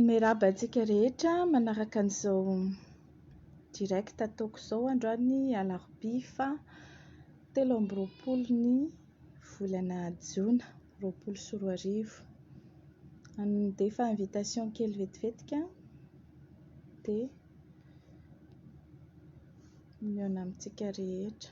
Miarahaba antsika rehetra manaraka an'izao direct ataoko izao androany alarobia fa telo amby roapolo ny volana jona roapolo sy roa arivo. Handefa invitation kely vetivetika dia mihaona amintsika rehetra.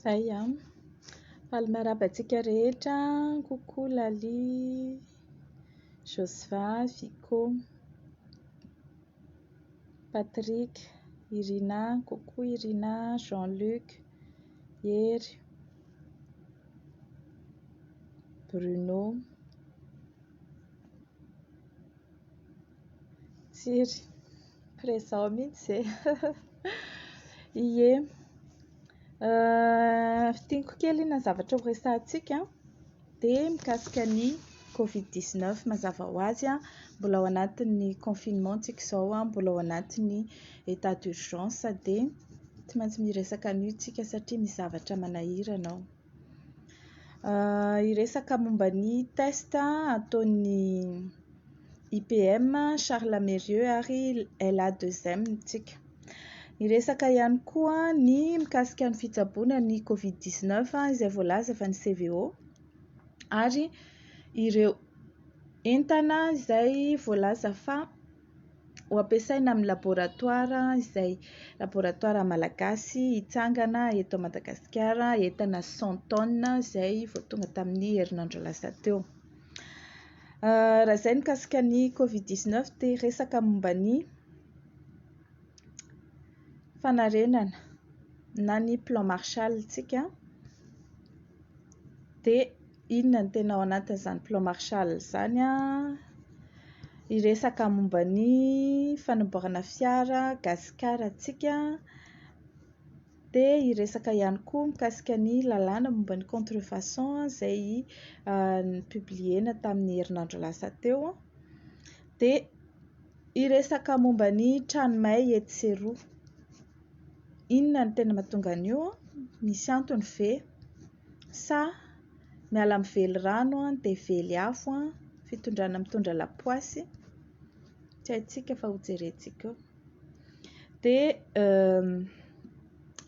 Zay an! Faly miarahaba antsika rehetra an! Coucou Laly. Josva, Vico, Patrick, Irina, coucou Irina, Jean Luc, Hery, Bruno, Tsiry, présent mihitsy e! ie, fintiniko kely iny zavatra horesahantsika an! Be mikasika ny covid dix neuf mazava ho azy a mbola ao anatin'ny confinement tsika izao a mbola ao anatin'ny état d'urgence dia tsy maintsy miresaka an'io tsika satria misy zavatra manahirana ao hiresaka momba ny test ataon'ny IPM Charles Mérieux ary LA2M tsika Niresaka ihany koa ny mikasika ny fitsaboana ny Covid 19 izay voalaza fa ny CVO ary ireo entana izay voalaza fa ho ampiasaina amin'ny laboratoara izay laboratoara malagasy hitsangana eto Madagasikara entana 100 tonnes izay vao tonga tamin'ny herinandro lasa teo. Euh, raha izay mikasika ny Covid 19 dia resaka momba ny fanarenana na ny plan Marshall ntsika dia inona no tena ao anatin'izany plan Marshall izany an! hiresaka momba ny fanamboarana fiara gasikara ntsika dia hiresaka ihany koa mikasika ny lalàna momba ny contrefaçon izay nopubliena tamin'ny herinandro lasa teo dia Hiresaka momba ny trano may etsy sy eroa. Inona no tena mahatonga an'io? Misy antony ve? Sa miala amin'ny velirano dia vely afo, fitondrana mitondra lapoasy? Tsy haintsika fa hojerentsika eo. Dia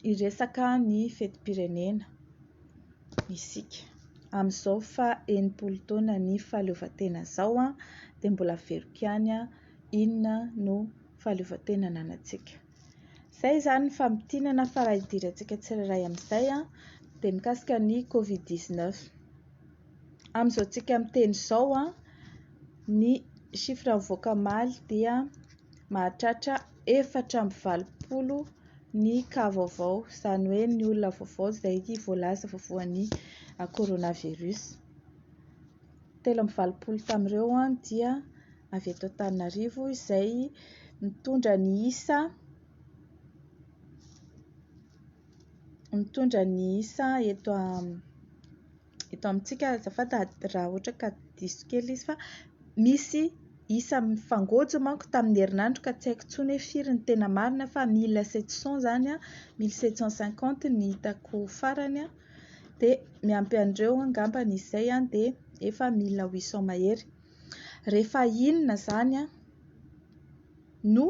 hiresaka ny fetim-pirenena. isika. Amin'izao faha enimpolo taona ny fahaleovantena izao dia mbola averiko ihany aho inona no fahaleovantena ananantsika. Izay izany ny famintinana fa raha idirantsika tsirairay amin'izay dia mikasika ny covid 19. Amin'izao tsika miteny izao ny chiffre mivoaka omaly dia mahatratra efatra amby valopolo ny cas vaovao, izany hoe ny olona vaovao izay voalaza fa voan'ny coronavirus. Telo amby valopolo tamin'ireo dia avy eto Antananarivo izay mitondra ny isa mitondra ny isa eto. eto amintsika azafady raha ohatra ka diso kely izy fa misy isa mifangôjo manko tamin'ny herinandro ka tsy haiko intsony hoe firy ny tena marina fa mille sept cent izany an, mille sept cent cinquante no hitako farany an, dia miampy an'ireo angamba ny izay dia efa mille huit cent mahery. Rehefa inona izany no.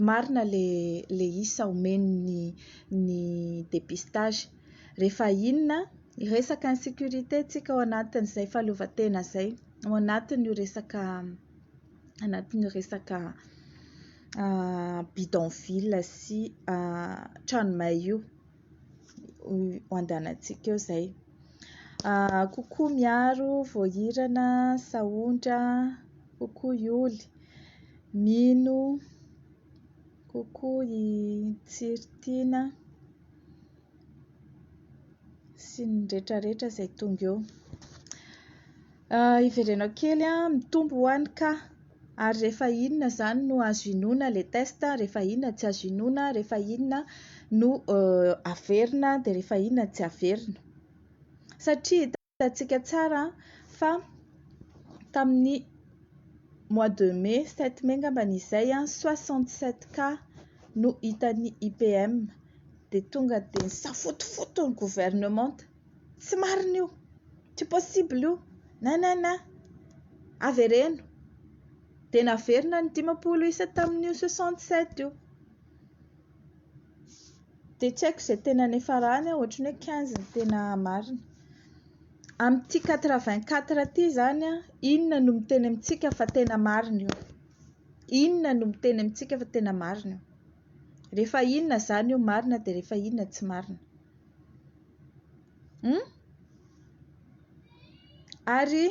marina le le isa omeny ny ny depistage refa inona resaka insecurite tsika ao anatin zay fahaleovantena zay ao anatin io resaka anatin io resaka bidonville sy trano may io ho andehanantsika eo izay. Ah, kokoa miaro voahirana, sahondra, kokoa i oly, mino, kokoa i tsiritiana, sy ny retraretra izay tonga eo. Hiverenao kely an, mitombo ho any ka! ary rehefa inona izany no azo inoana ilay test, rehefa inona tsy azo inoana, rehefa inona no averina dia rehefa inona no tsy averina. Satria hitantsika tsara fa tamin'ny mois de mai, sept mai angambany izay, soixante sept cas no hitan'ny IPM dia tonga dia nisafotofoto ny governemanta. Tsy marina io, tsy possible io, na na na. Avereno. Dia naverina ny dimampolo isa tamin'io soixante sept io. Dia tsy haiko izay tena niafarany an, ohatran'ny hoe quinze no tena marina. Amin'ity quatre vingt quatre ity izany an, inona no miteny amintsika fa tena marina io? Inona no miteny amintsika fa tena marina io? Rehefa inona izany io marina dia rehefa inona tsy marina? Hum? Ary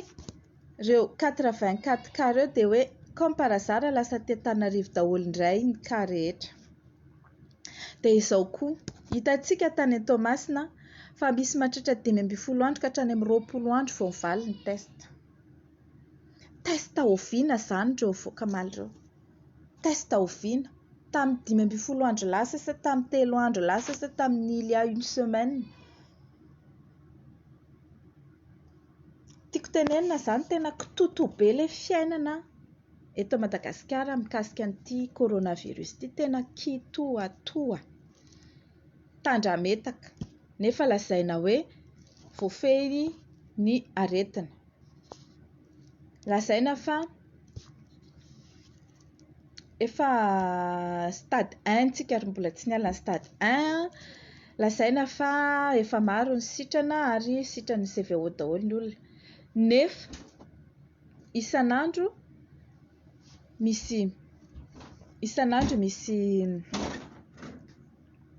reo 84 cas reo dia hoe comme par hasard lasa aty Antananarivo daholo indray ny cas rehetra. Dia izao koa, hitantsika tany Toamasina fa misy mahatratra dimy ambin'ny folo andro ka hatrany amin'ny roapolo andro vao mivaly ny test. Test oviana izany reo avoaka omaly reo? Test oviana? Tamin'ny dimy ambin'ny folo andro lasa sa tamin'ny telo andro lasa sa tamin'ny il y a une semaine? Tiako tenenina izany tena kitoto be ilay fiainana eto Madagasikara mikasika an'ity coronavirus ity. Tena kitoatoa, tandrametaka nefa lazaina hoe voafehy ny aretina. lazaina fa efa stade un tsika ary mbola tsy niala ny stade un, lazaina fa efa maro ny sitrana ary sitran'ny CVO daholo ny olona nefa isan'andro misy isan'andro misy